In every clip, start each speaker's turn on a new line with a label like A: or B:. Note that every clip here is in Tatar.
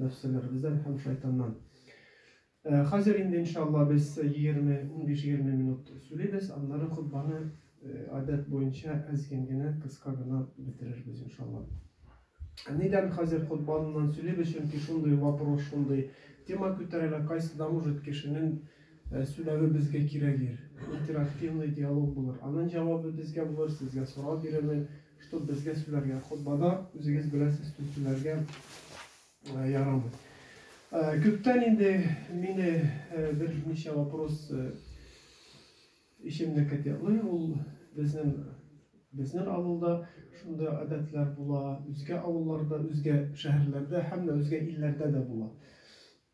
A: нәфселәребездән һәм шайтаннан. Э, хәзер инде, иншалла, без 20, 15-20 минут сүлибез, аннары хотбаны э, адәт буенча әзген генә, кыска гына бетерербез, иншалла. Нидән хәзер хотбаннан сөйлибез, чөнки шундый вопрос, шундый тема күтәрелә, кайсы да может кешенең э, сүләве безгә кирәгер, интерактивный диалог булыр. Аның җавабы безгә булыр, сезгә сорау бирермен, Чтоб безгә сүләргә, хотбада үзегез беләсез тү сүләргә ярамый. Күптән инде мине бер ничә вопрос ишемне кәтеклый, ул безнең безнең авылда шундый гадәтләр була, үзгә авылларда, үзгә шәһәрләрдә һәм дә үзгә илләрдә дә була.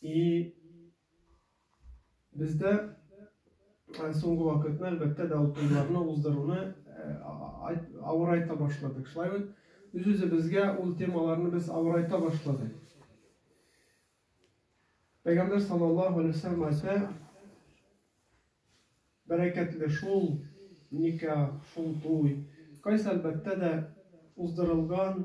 A: И бездә э, соңгы вакытны әлбәттә дә утыруларны уздыруны э, авырайта башладык. Шулай бит үз-үзебезгә ул темаларны без авырайта башладык. Пәйгамбер саллаллаху алейхи вәсәлләм әйтә, бәрәкәтле шул ника, шул туй. Кайсы әлбәттә дә уздырылган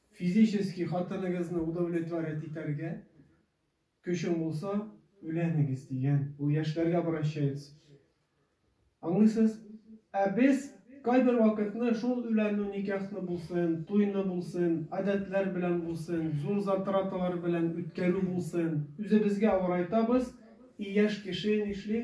A: Физически хатыныгызны удовлетворять итәргә көчең булса, өйләнегез, дигән. Ул яшьләргә обращается. Аңлыйсыз? Ә без кайбер вакытны шул өйләнү никяхны булсын, туйны булсын, гадәтләр белән булсын, зур затраталар белән үткәрү булсын, үзебезгә авырайтабыз, и яшь кеше нишли?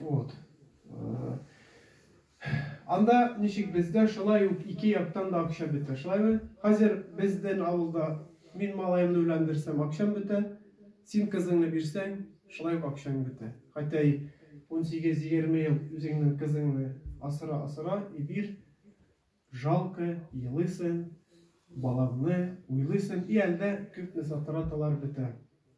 A: Вот. Анда ничек бездә шулай ук ике яктан да акча бетә, шулаймы? Хәзер безден авылда мин малаемны өйләндерсәм акчам бетә, син кызыңны бирсәң, шулай ук акчаң бетә. Хәтта и унсигез-егерме ел үзеңнең кызыңны асра асра и бир, жалко, елыйсың, балаңны уйлыйсың и әлдә күпме затраталар бетә.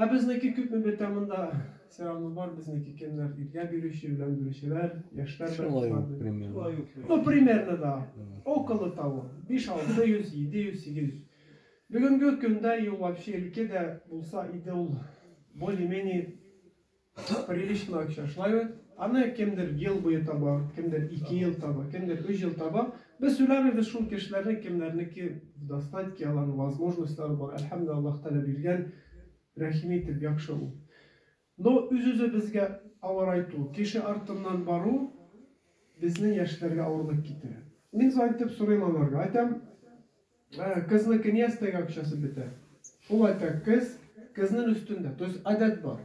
A: Ә безнеке күпме бетә монда? Соравыбыз бар безнеке кемнәр иргә бирүче белән бирүчеләр яшьләр белән Шулай ук примерно.
B: Ну примерно
A: да около того биш алты йөз җиде йөз сигез йөз бүгенге көндә и ул вообще өлкә дә булса иде ул более менее Прилично акча. Шулай бит? Аны кемдер ел буе таба, кемдер ике ел таба, кемдер өч ел таба. Без сөйләмибез шул кешеләрне, кемнәрнеке в достатке, аларның возможностьлары бар. Әлхәмдә Аллаһ Тәгалә биргән, рәхим итеп, яхшы ул. Но үз-үзебезгә авырайту, кеше артыннан бару безнең яшьләргә авырлык китерә. Мин зайтып сорыйм аларга, айтам, Кызны кнестәгә акчасы бетә. Ул айта, кыз, кызнын өстендә. То есть адәт бар.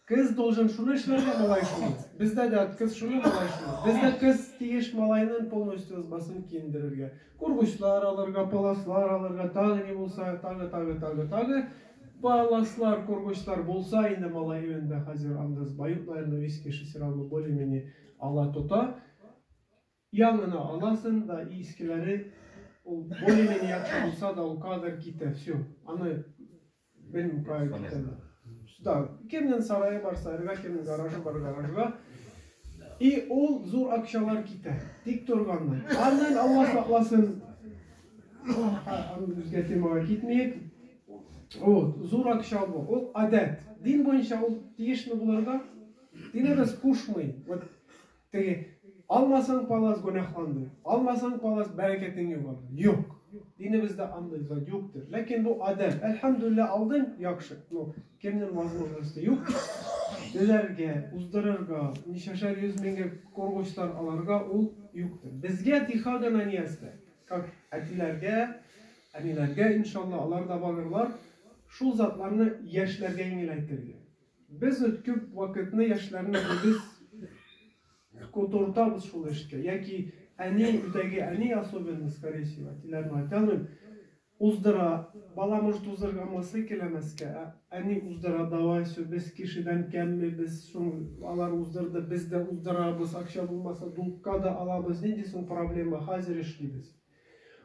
A: Кыз должен шуны эшләргә, малай шуны. Бездә дә кыз шуны, малай шуны. Бездә кыз тиеш малайнын полностью ызбасын киендерергә. Кургучлар алырга, паласлар алырга, тагы ни булса, тагы, тагы, тагы, тагы. Паласлар, кургучлар булса инде малай өендә хәзер анда ызба юк, наверное, виски шесералма более-менее ала тота. Яңыны аласың да и искеләре ул более менее яхшы булса да ул кадр китә все аны белмим кая китәләр да кемнең сарае бар сарайга кемнең гаражы бар гаражга и ул зур акчалар китә тик торганнан аннан алла сакласын аны үзгә темага китмиек ул зур акча бу ул адәт дин буенча ул тиешме булырга динебез кушмый вот Теге, Алмасаң палас гөнаһландың, алмасаң палас бәрәкәтең югалыр. Юк. Динебездә андый зат юктыр. Ләкин бу адәм. Әлхәмдүлилләһ, алдың, яхшы. Ну, кемнең возможности юк? Түләргә, уздырырга, ничәшәр йөз меңгә кургучлар алырга ул юктыр. Безгә тиха гына ниястә. Как әтиләргә, әниләргә, иншалла, алар да барырлар. Шул затларны яшьләргә иңеләйтергә. Без үт күп вакытны яшьләрне үзебез котыртабыз шул эшкә. Яки әни, өйдәге әни особенно, скорее всего, әтиләрне айталмыйм, уздыра, бала может узырга мысы келәмәскә, ә әни уздыра, давай, все, без кешедән кәмме, без шул, алар уздырды, без дә уздырабыз, акча булмаса, дулкка да алабыз, нинди соң проблема, хәзер эшлибез.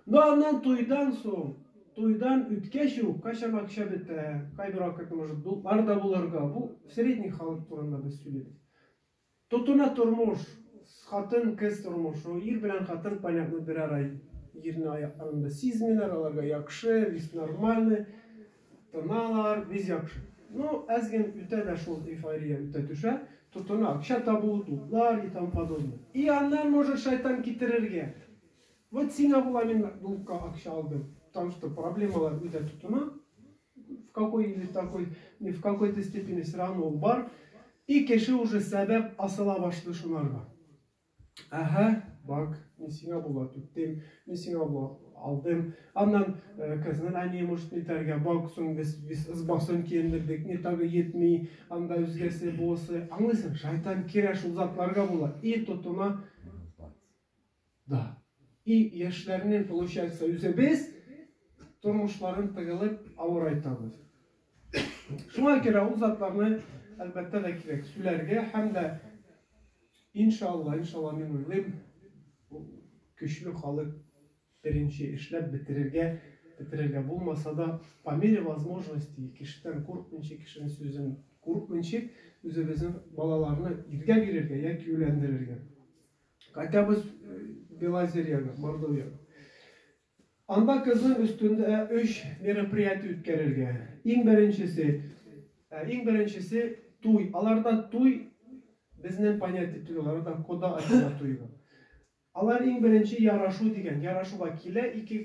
A: Ну аннан туйдан соң, туйдан үткәч үк кайчан акча бетә, кайбер вакытта может дутлар да булырга, бу средний халык турында без сөйлибез. Тотына тормыш, хатын, кыз тормышы, ир белән хатын понятно бер ара җирне аякларында сизмиләр, аларга яхшы, весь нормальный, тыналар, весь яхшы. Ну әз ген үтә дә шул эйфория үтә төшә, тотына акча табу, дутлар и тому подобное. И аннан может шайтан китерергә, Вот сиңа була мин Макбукка акча алдым. Потому что проблемалар үтә тотына. В какой или такой, не в какой-то степени все равно ул бар. И кеше уже сәбәп асыла башлый шунарга. Әһә, бак, мин сиңа була түттем, мин сиңа була алдым. Аннан э, кызның әние может нитәргә, бак, соң без, без ызбасын киендердек, ни тагы етми, анда үзгәсе булысы. Аңлыйсың, шайтан керә шул затларга була и тотына да. И яшьләрнең получается үзебез тормышларын тыгылып авырайтабыз. Шуңа күрә ул затларны әлбәттә дә кирәк сүләргә һәм дә иншалла, иншалла мин уйлыйм, көчле халык беренче эшләп бетерергә, бетерергә булмаса да, по мере возможности, кешедән курыкмыйча, кешенең сүзен курыкмыйча, үзебезнең балаларны иргә бирергә яки өйләндерергә. Кайтабыз Белозерьяга, Мордовиягә. Анда кызның өстендә өч мероприятие үткәрергә. Иң беренчесе, иң беренчесе туй. Аларда туй безнең понятие түгел, аларда кода ачыла туйга. Алар иң беренче ярашу дигән, ярашуга килә ике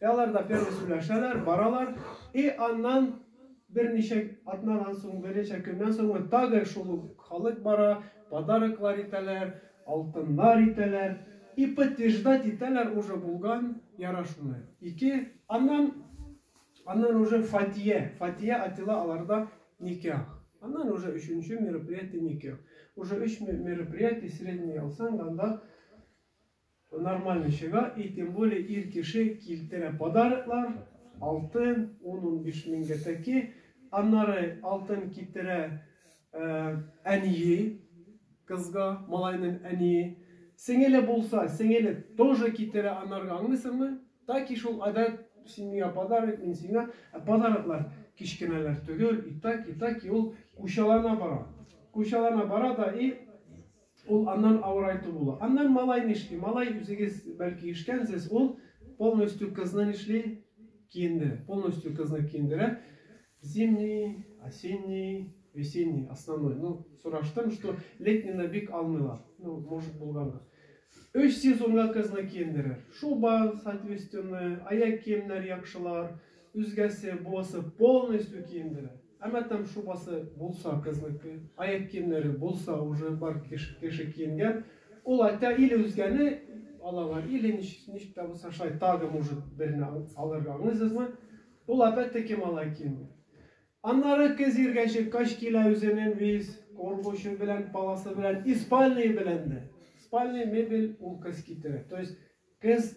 A: И алар да первый сүләшәләр, баралар, и аннан берничә атнадан соң, берничә көннән соңмы, тагы шул ук халык бара, подароклар итәләр, алтыннар итәләр, и подтверждать итәләр уже булган ярашуны, ике, аннан, аннан уже фатия, фатия атила аларда никях, аннан уже өченче мероприятие никях, уже өч мероприятие средний алсаң, анда Нормальный чыга и тем более ир кеше килтерә подароклар, алтын, ун-унбиш меңгә тәки, аннары алтын китерә әние кызга, малайның әние, сеңеле булса, сеңеле тоже китерә анарга, аңлыйсыңмы? Таки шул адәт, сиңа подарок, мин сиңа, ә подароклар кечкенәләр төгел и таки, таки ул кучалана бара, кучалана бара да и Ул аннан авырайту була. Аннан малай нишли? Малай үзегез бәлки ишкәнсез, ул полностью кызны нишли? Киендерә. Полностью кызны киендерә. Зимний, осенний, весенний, основной. Ну, сораштым, что летнина бик алмыйлар. Ну, может, булганга. Өч сезонга кызны киендерер. Шуба, соответственно, аяк киемнәр яхшылар, үзгәсе, бусы полностью киендерә. Әмма там шубасы булса кызныкы, аяк киемнәре булса уже бар кеше кеше киенгән, ул әйтә или үзгәне алалар, или ничек тә булса шулай тагы может берне алырга аңлыйсызмы? Ул опять-таки малай киенгән. Аннары кыз иргә чыккач килә үзенең виз коргучы белән, паласы белән и спальные белән дә. Спальные мебель ул кыз китерә. То есть кыз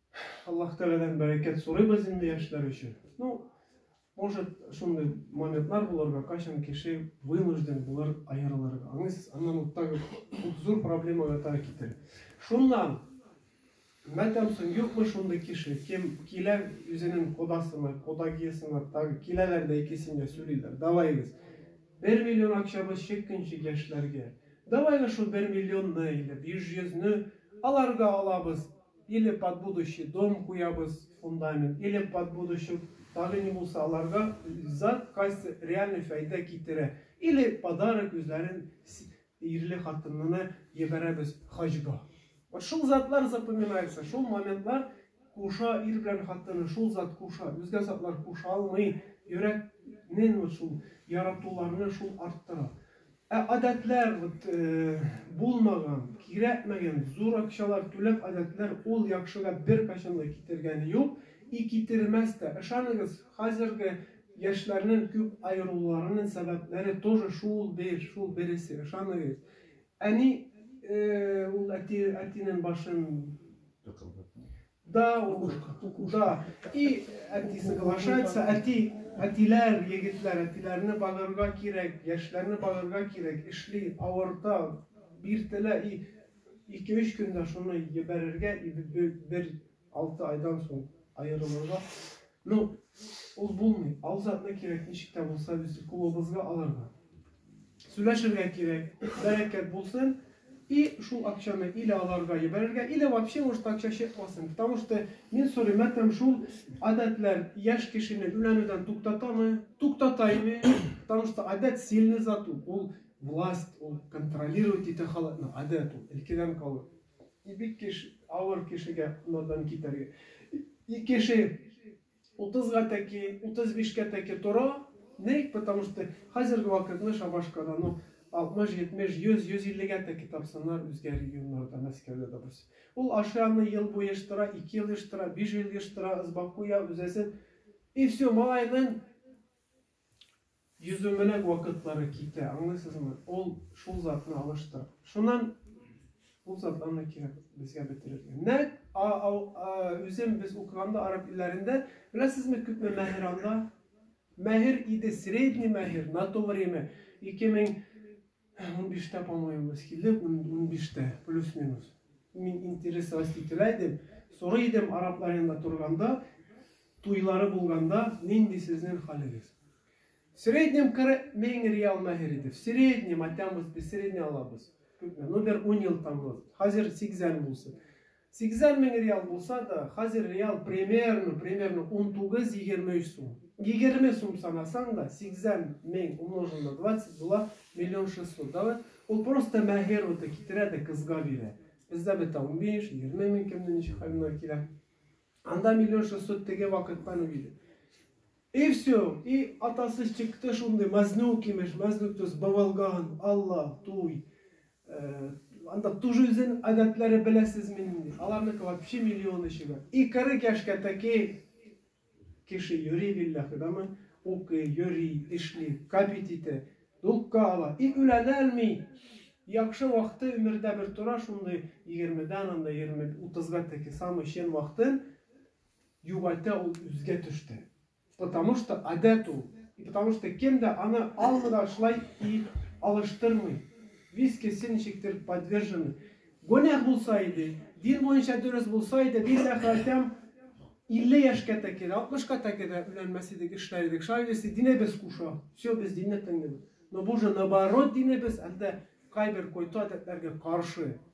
A: Аллаһ Тәгаләдән бәрәкәт сорыйбыз инде яшьләр өчен. Ну, может, шундый моментлар булырга, кайчан кеше вынужден булыр аерылырга. Аңлыйсыз? Аннан вот так вот зур проблемага таба китер. Шуннан мәтәмсең юкмы шундый кеше, кем килә үзенең кодасына, кодагиясына, тагы киләләр дә икесенә сөйлиләр. Давайгыз. Бер миллион акчабыз чеккенче яшьләргә. Давайгыз шул бер миллионны или биш йөзне аларга алабыз. Или под будущий дом куябыз, фундамент, или под будущий тагы ни булса аларга зат кайсы реальный фәйдә китерә, или подарок үзләрен ирле хатынына ебәрәбез хаҗга. Вот шул затлар запоминается, шул моментлар куша ир белән хатынны, шул зат куша, үзгә затлар куша алмый, йөрәкнен вот шул яратуларны шул арттыра. Ә адәтләр, вот булмаган, кирәкмәгән, зур акчалар түләп адәтләр ул яхшыга беркайчан да китергәне юк и китермәс тә. Ышаныгыз, хәзерге яшьләрнен күп аерылуларынын сәбәпләре тоже шул бер, шул бересе, ышаныгыз. Әни ул әти, әтинен башын. Тыкылдатмый. Да, укушка, укуда. И әти соглашается, әти, әтиләр, егетләр, әтиләрне багырга кирәк, яшьләрне багырга кирәк, эшли, авырта, биртелә, и ике-өч көндә шуны ебәрергә, и бер алты айдан соң аерылырга. Ну, ул булмый, ал затны кирәк, ничек тә булса, без клубыбызга алырга. Сүләшергә кирәк, бәрәкәт булсын, и шул акчаны иле аларга ебәрергә, иле вообще может акча чыкмасын, потому что мин сорыйм, әтәм шул адәтләр яшь кешене үләнүдән туктатамы, туктата име, потому что адәт сильный зат ул, ул власть, ул контролировать итә халыкны, адәт ул, илкедән калу, и бик кеш, авыр кешегә надан китәргә, и кеше Утызга тәки, утыз бишкә тәки тора. Ник? Потому что хәзерге вакытны Шабашкада, ну, алтмыш, йитмеш, йөз, йөз иллегә тәки тапсыннар, үзгә регионнарда, Мәскәүдә, допустим. Ул ашый аны ел буе ештыра, ике ел ештыра, биш ел ештыра, ызбакуя, үзәсен. И всё, малайның Йөзүмеләк вакытлары китә, аңлыйсызмы? Ул шул затны алыштыра. Шуннан ул затларны кирәк безгә бетерергә. Нәк а, а, а, үзем без укыганда араб илләрендә, беләсезме, күпме мәһер анда? Мәһер иде, средний мәһер, на то время 2000 Унбиштә, по-моему, без килдек, унбиштә, плюс-минус. Мин интересовать ителә идем, сорый идем, араб янында торганда, туйлары булганда, нинди сезнең хәлегез? В среднем 40 мең реал мәһер иде. В среднем, атямыз, без средний алабыз. Күпме? Ну, бер ун ел таңлы. Хәзер 80 булсын. Сигезәр мең реал булса да, хәзер реал примерно, примерно унтугыз, егерме өч сум. Егерме сум санасаң да, сигезәр мең умножил на двадцать була миллион шестьсот. Давай, ул просто мәһер уты китерә дә кызга бирә. Бездә бетә унбиш, егерме мең кемнең ничек хәленә килә. Анда миллион шестьсот теге вакыттан ук иде. И все, и атасы чыкты шундый, мазнюк имеш, мазнюк то есть бавалган, алла, туй, анда тужизен адәтләре беләсезме нинди, аларныкы вообще миллион эше бар, и кырык яшькә тәки кеше йөри билләхи, дама, укый, йөри, эшли, капит итә, дулкка ала, и үләнәлми, яхшы вакыты өмердә бер тора шундый, егермедән анда егерме утызга тәки самый чен вакытын, Югата ул үзгә төште. Потому что адәт ул. И потому что кем дә аны алмыйда шулай и алыштырмый. Вискесы ничектер подвержены. Гонях булса иде, дин буенча дөрес булса иде, билләхи айтам, 50 яшькә тәки дә, 60 ка тәки дә үләнмәс идек, эшләр идек. Шулай дисә, динебез куша. Все, без динне тыңлыйбыз. Но бу же наоборот динебез, әлдә кайбер кой-то адәтләргә каршы.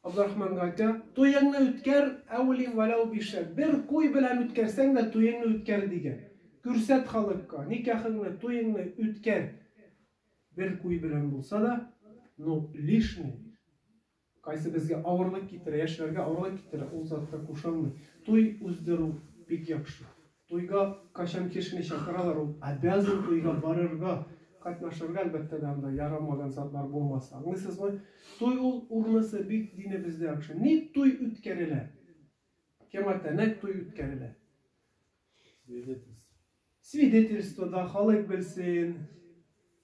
A: Абдрахман гайта, Туеңны үткәр, әүли вәләү бишән, бер куй белән үткәрсәң дә туеңны үткәр, дигән. Күрсәт халыкка, никахыңны, туеңны үткәр, бер куй белән булса да, но лишнее, кайсы безгә авырлык китерә, яшьләргә авырлык китерә, ул затка кушылмый. Туй уздыру бик яхшы. Туйга кайчан кешене чакыралар, ул обязан туйга барырга, катнашырга, әлбәттә дә, анда ярамаган затлар булмаса. Аңлыйсызмы? Туй ул урынысы бик динебездә яхшы. Ник туй үткәрелә? Кемга тәнәк туй үткәрелә? Свидетельство. Свидетельство да халык белсен.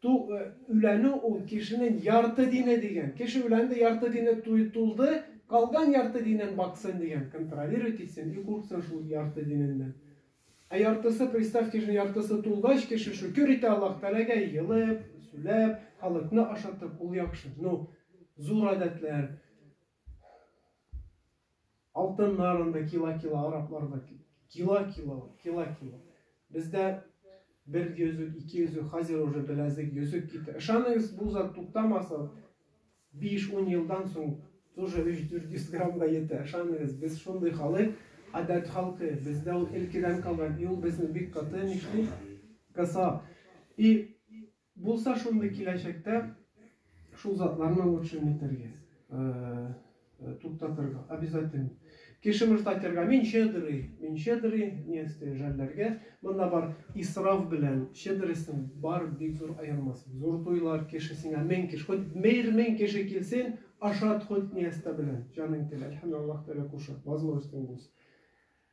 A: Ту, үләнү ул кешенен ярты дине диген. Кеше үләнде ярты дине туй тулды, калган ярты динен баксын диген, контролировать итсен и курксын шул ярты диненнән. Ә яртысы, представьте, кешенең яртысы тулгач, кеше шөкер итә Аллаһ Тәгаләгә, елып, сүләп, халыкны ашатып, ул яхшы. Ну, зур адәтләр. Алтыннар анда кила-кила, арапларда кила-кила, кила-кила. Бездә бер йөзек, ике йөзек, хәзер уже беләзек, йөзек китә. Ышаныгыз, бу зат туктамаса, 5-10 елдан соң тоже 3-400 граммга ете. Ышаныгыз, без шундый халык, адәт халкы. Бездә ул илкедән калган, и ул безне бик каты, нишли, кыса. И Булса шундый киләчәктә шул затларны лучше не итәргә, туктатырга, обязательно. Кеше может айтырга, мин щедрый, мин щедрый, не исте жәлләргә. Монда бар исраф белән щедростьның бар бик зур аермасы. Зур туйлар, кеше сиңа мең кеше, хоть мер мең кеше килсен, ашат хоть не истә белән, җаның теле. Әлхәмдулиллаһ Тәгалә кушат, возможностең булса.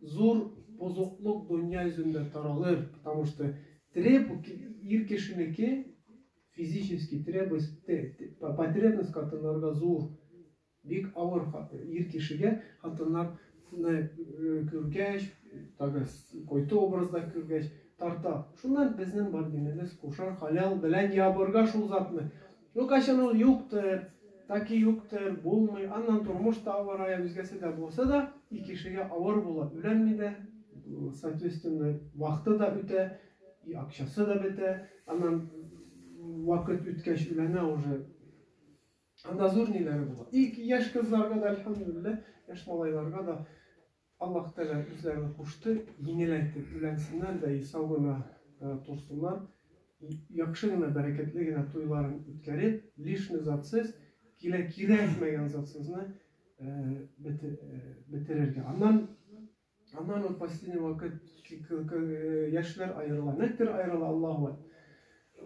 A: зур бозыклык дөнья йөзендә таралыр, потому что треб ир кешенеке физически требует потребность хатыннарга зур, бик авыр ир кешегә хатыннар күргәч, тагы койты образда күргәч, тарта. Шуннан безнең бар динебез кушар халял белән ябырга шул затны. Ну кайчан ул юктыр, таки юктыр, булмый, аннан тормыш та авырая, үзгәсе дә булса да, и кешегә авыр була, өйләнми дә, соответственно, вахты да үтә, и акчасы да бетә, аннан вакыт үткәч өйләнә уже, анда зур ниләре була. И яшь кызларга да, әлхәмдүлилләһ, яшь малайларга да, Аллаһ Тәгалә үзләрен кушты, еңеләйтеп өйләнсеннәр дә и сау гына торсыннар, и яхшы гына, бәрәкәтле генә туйларын үткәреп, лишний затсыз, килә кирәкмәгән затсызны бетерергә. Аннан, аннан вот последний вакыт яшьләр аерыла. Нәктер аерыла, Аллаһу әкбәр.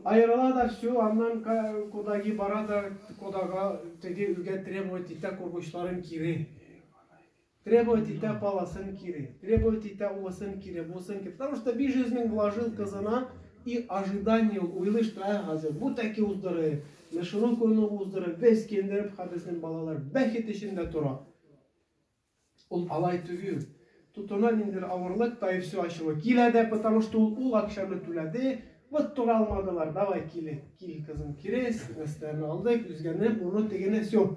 A: Аерыла да все, аннан кодагы бара да кодага теге өйгә требовать итә кургычларын кире. Требовать итә паласын кире, требовать итә уысын кире, бусын кире. Потому что биш йөз мең вложил кызына и ожидание ул, уйлый, что ә хәзер бу тәки уздыры, мешелу куну уздыры, без кендереп ха безнең балалар бәхет эчендә тора. Ул алай түгел. Тотына ниндер авырлык, та и все ачуы. Килә дә, потому что ул ул акчаны түләде, вот тора алмадылар, давай киле, кил кызым кире, нәрсәләрне алдык, үзгәне, моны, тегене, все.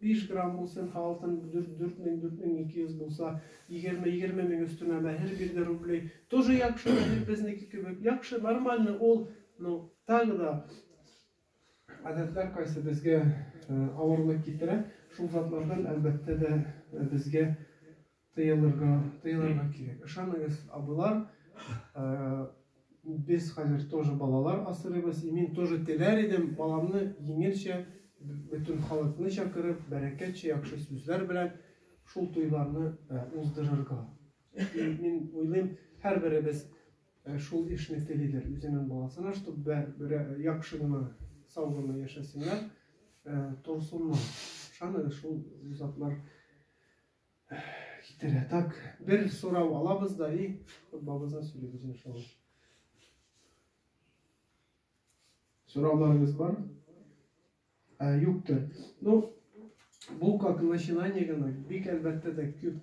A: Биш грамм булсын, һалтын дүрт, дүрт мең, дүрт мең ике йөз булса, егерме, егерме мең өстенә мәһер бирде рублей. Тоже яхшы мәһер, безнеке кебек. Яхшы, нормально ул, но так да. Гадәтләр кайсы безгә авырлык китерә, шул затлардан, әлбәттә дә, безгә Тыелырга, тыелырга кирәк. Ышаныгыз, абыйлар, э, без хәзер тоже балалар асырыйбыз. И мин тоже теләр идем баламны җиңелчә, бөтен халыкны чакырып, бәрәкәтчә, яхшы сүзләр белән шул туйларны э, уздырырга. И мин уйлыйм, һәрберебез э, шул эшне телидер. Үзенең баласына, чтобы бер, бер э, яхшы гына, сау гына яшәсеннәр, э, торсыннар. Ышаныгыз, шул затлар Китерә. Так, бер сорау алабыз да и футболыбызны сөйлибез иншалла. Сорауларыгыз бар? Ә, юктыр. Ну, бу как начинание гына, бик әлбәттә дә күп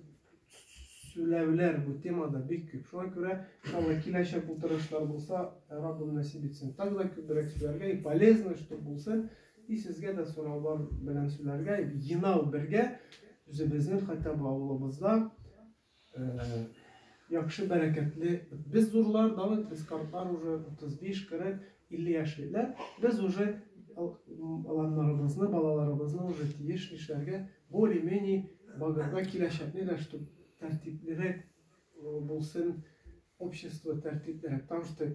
A: сүләвләр бу темада бик күп. Шуңа күрә иншалла киләчәк утырышлар булса, Раббым насип итсен. Так да күбрәк сүләргә и полезно, что булсын. И сезгә дә сораулар белән сүләргә енау бергә үзебезнең хәтта бу авылыбызда яхшы бәрәкәтле без зурлар да бит без картлар уже 35 40 50 яшьлеләр без уже аланнарыбызны балаларыбызны уже тиеш нишләргә более менее багырда киләчәкне дә штук тәртиплерәк булсын общество тәртиплерәк потому что